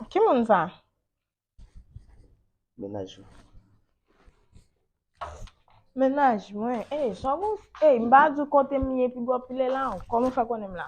Ki moun sa? Menaj ou. Mennaj mwen, ey jan wou, ey m pa di w kote m ye pi bò pi lè la w, kòman w fè konnen m la?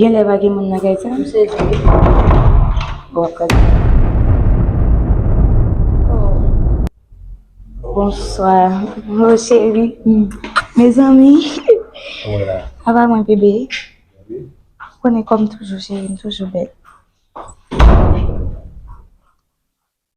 Gen lè pa gen moun nan kay sa? M se di. Bon, kòd. Bonswa. Bon, cheri. Me zanmi. Wala. Ava mwen bebe. Bebe. Konnen kòm toujou cheri, m toujou bèl.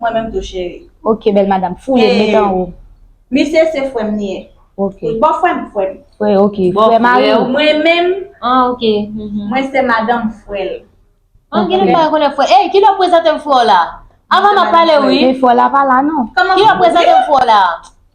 Mwen menm tou cheri. Ok bèl madam foule met anwo. Misye se frèm li ye. Ok. Bon frèm frèm. Frè ok. Frè mari ou. Mwen menm. An ok. Mwen se madanm frèl. An gen nèg pa gen konnen frè. Ey kilè w prezante m frè w la? Avan m ap pale wi. Men frè w la pa la non. Kilè w prezante m frè w la?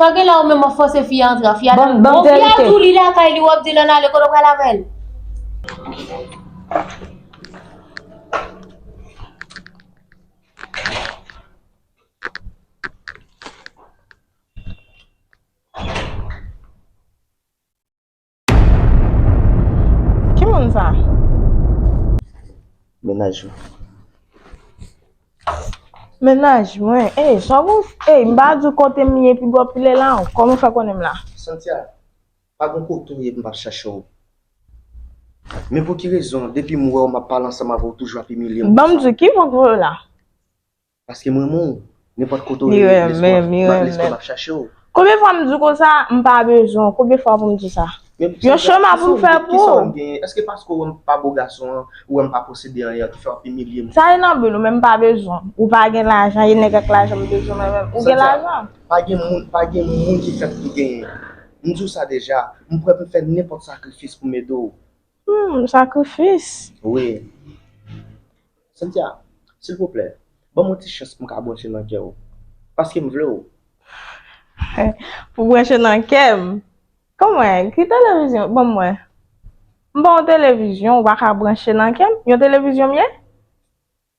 Sa gen la ou menm wap fòse fi a antre a fi a dil bon fi a dou li lakay li wap dil an ale kote ou pral avèl. Ki moun sa? Menaj mwen. Menaj mwen? Ey, sa wou? Ey, m pa di w kote m ye pi gwo pile la w. Kòman w fè konnen m la? Santia, pa gen kote w ye m pa chache w. Men pou ki rezon depi m wè w m ap pale ansanm avè w toujou ap imilye m konsa? Banm di w, ki vòvò yo la? Paske m renmen w Nenpòt kote w ye Li renmen m Li renmen m Lespre m ap chache w Konbyen fwa m di w konsa M pa bezwen w Konbyen fwa pou m di sa Yon chema pou m fè pou Kisa w wè m genyen Èske paske w wè m pa bo gason an Ou wè m pa posede anyen Ki fè w ap imilye m Sa e nan bil ou men m pa bezwen w Ou pa gen lajan E nèg ak lajan m bezwen mwen menm Ou gen lajan Pa gen moun Pa gen moun ki fèt pou genyen M di w sa deja M prè pou m fè nenpòt sakrifis pou m ede w Humm sakrifis. Wi. Cynthia, silvouplè, ban m yon ti chans pou m ka branche nan kè w. Paske m vle w. Pou w branche nan kè m? Kon mwen, ki televizyon, ban mwen. M pa yon televizyon ou pa ka branche nan kè m. Yon televizyon m ye?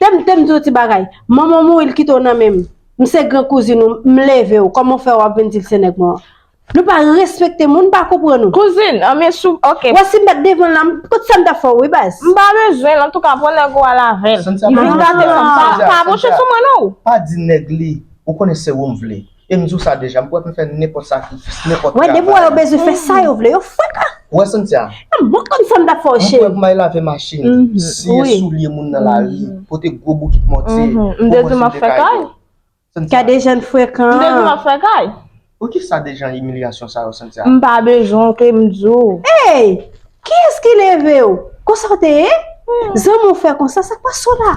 Tem tem diw ti bagay. Manmanw mouri l kitew nan menm. M se gran kouzin ou m levew koman w fè wap vin dil se nèg mwen an. Nou pa respekte moun m pa konprann ou. Kouzin an men sou ok. Wè sim pat devanl la m kot sam tap fè w wi baz. M pa bezwen l antouka pran nèg ou al avèl. Li vin gate fanm sa. Pa bouche sou mwen non. Pa di nèg li ou konnen se ou m vle. E m di w sa deja, m pwè pou m fè nenpòt sakrifis, nenpòt travay. Wè, depi w wè yo bezwen fè sa yo vle, yo fraka! Ou wè Cynthia? Nan m bon konn sa m t ap fè w, cheri. M pwè pou m al lave machin, siye soulye moun nan lari, pote gwo bokit mòtye, gwo mòso de kay yo. M depi m ap fè kay. Cynthia. Kay Dejean frekan. M depi m ap fè kay. Poukisa Dejean imilyasyon sa yo, Cynthia? M pa bezwen w ke m di w. Ey! Kiyès ki leve w? Konsa w te ye? Zanmi w fè konsa, sa k pas w la?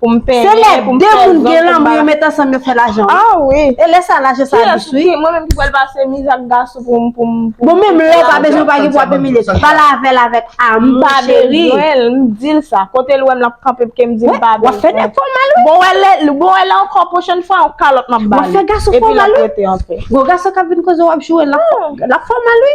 Pou m penyen, pou m fè zon pou m ba. Se lè 2 moun gen lanmou yo met ansanm yo fè lajan wi. Ah wi. E lè sa lajan sa dous wi. Ki mwen menm ki pral pase miz ak gason pou m pou m. Bon menm lè ou pa bezwen ou pa gen pou ap imilye l. Pale avè l avèk amou cheri. M pa bezwen l, m di l sa. Kote l wè m l ap kanpe pke m di l m pa bezwen. Wap fè nèg fòmal wi. Bon wè lè ankò pwochèn fwa yon kalòt m ap ba li. Wap fè gason fòmal wi. Epi l ap rete anpè. Gon gason k ap vin koze w ap joure l, l ap fòmal wi.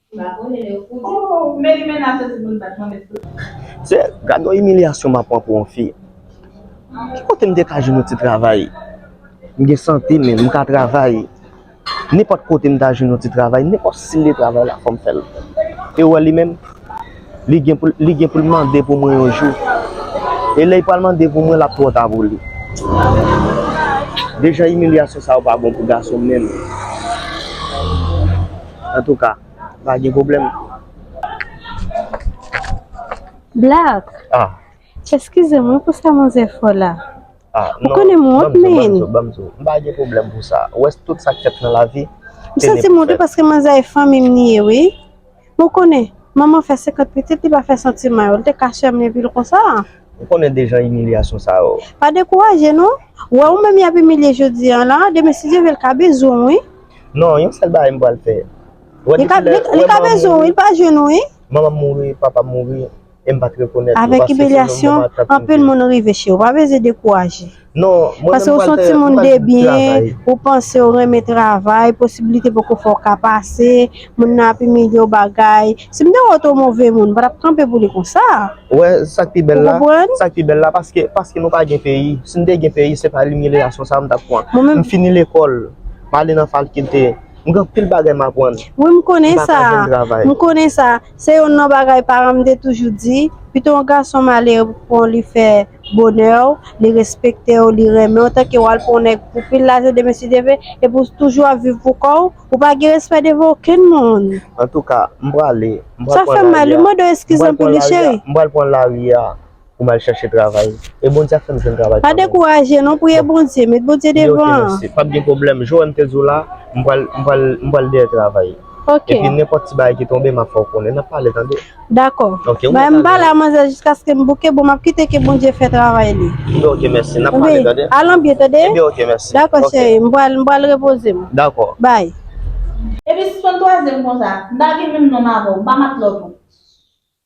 Seye, gad yon imilyasyon map pran pou yon fi. Ki kote m te ka jwenn yon ti travay? M gen sante menm, m ka travay. Nenpòt kote m ta jwenn yon ti travay, nenpòt stil de travay la fò m fè l. E ou wè li menm? Li gen pou l mande pou mwen yon jou. E lè li pral mande pou mwen l ap twò ta pou li. Dejan imilyasyon sa yo pa bon pou gason menm. Antouka, pa gen pwoblèm. Black, eskize mwen pou sa manzè fò la. Ou konnen m wont menn. Banm di w, m pa gen pwoblèm pou sa. Ou wè tout sa k fèt nan lavi. M santi m wont wi paske manzè e fanmi m li ye wi. Ou konnen, manman fè senkant pitit li pa fè santiman yo. Li te ka chèmlin epi l konsa a. Ou konnen de jan imilyasyon sa yo. Pa dekouraje non. Ou wè ou menm y ap imilye jodi an la, demen si Dye vle l ka bezwen w wi. Non, yon sèl bagay m pral fè. Li ka bezwen w wi, li pa jwenn ou wi. Manman m mouri, papa m mouri. Avèk imilyasyon, anpil moun rive che ou. Pa bezwen dekouraje. Pase ou son timoun debyen, ou panse ou renmen travay, posibilite poko fè ou ka pase, moun nan ap imilye ou bagay. Si m te wè ou te yon move moun, m pa t ap kanpe pou li konsa. Ou konprann? Wi, m konnen sa. Se youn nan bagay paran m te toujou di, pito yon gason malere pou pran w li fè bonè w, li respekte w, li renmen w tanke w al pran yon nèg pou pil lajè demen si Dye vle, epi w toujou ap viv pou kò w, ou pa gen respè devan okenn moun. Antouka, m prale, m pral pran lari a. Sa fè m mal wi, mande w eskiz anpil wi cheri. M pral pran lari a. pou m al chache travay. E Bondye ap fè m jwenn travay kanmenm. Pa dekouraje non, priye Bondye, met Bondye devan. Li ok mèsi, pap gen pwoblèm. Jou an m te di w la, m pral dèyè travay. Ok. Epi nenpòt ti bagay ki tonbe m ap fè w konnen. N ap pale tande. Dakò. Ok, ou mèt ale. Bay m pale ak manzè jiskaske m bouke, bon m ap kite ke Bondye fè travay li. Ebyen ok mèsi, n ap pale tande. Al anbyen tande. Ebyen ok mèsi. Dakò cheri, m pral repoze m. Dakò. Bay. Epi sispann twaze m konsa. M pa gen menm nonm avè w, m pa matlòt ou.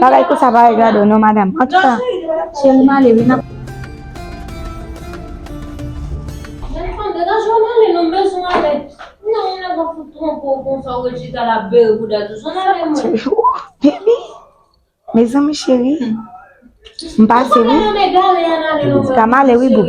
Bagay konsa pa regarde w non madam. An tou ka, cheri m ale wi n ap. Mezanmi cheri m pase wi. An tou ka m ale wi boo.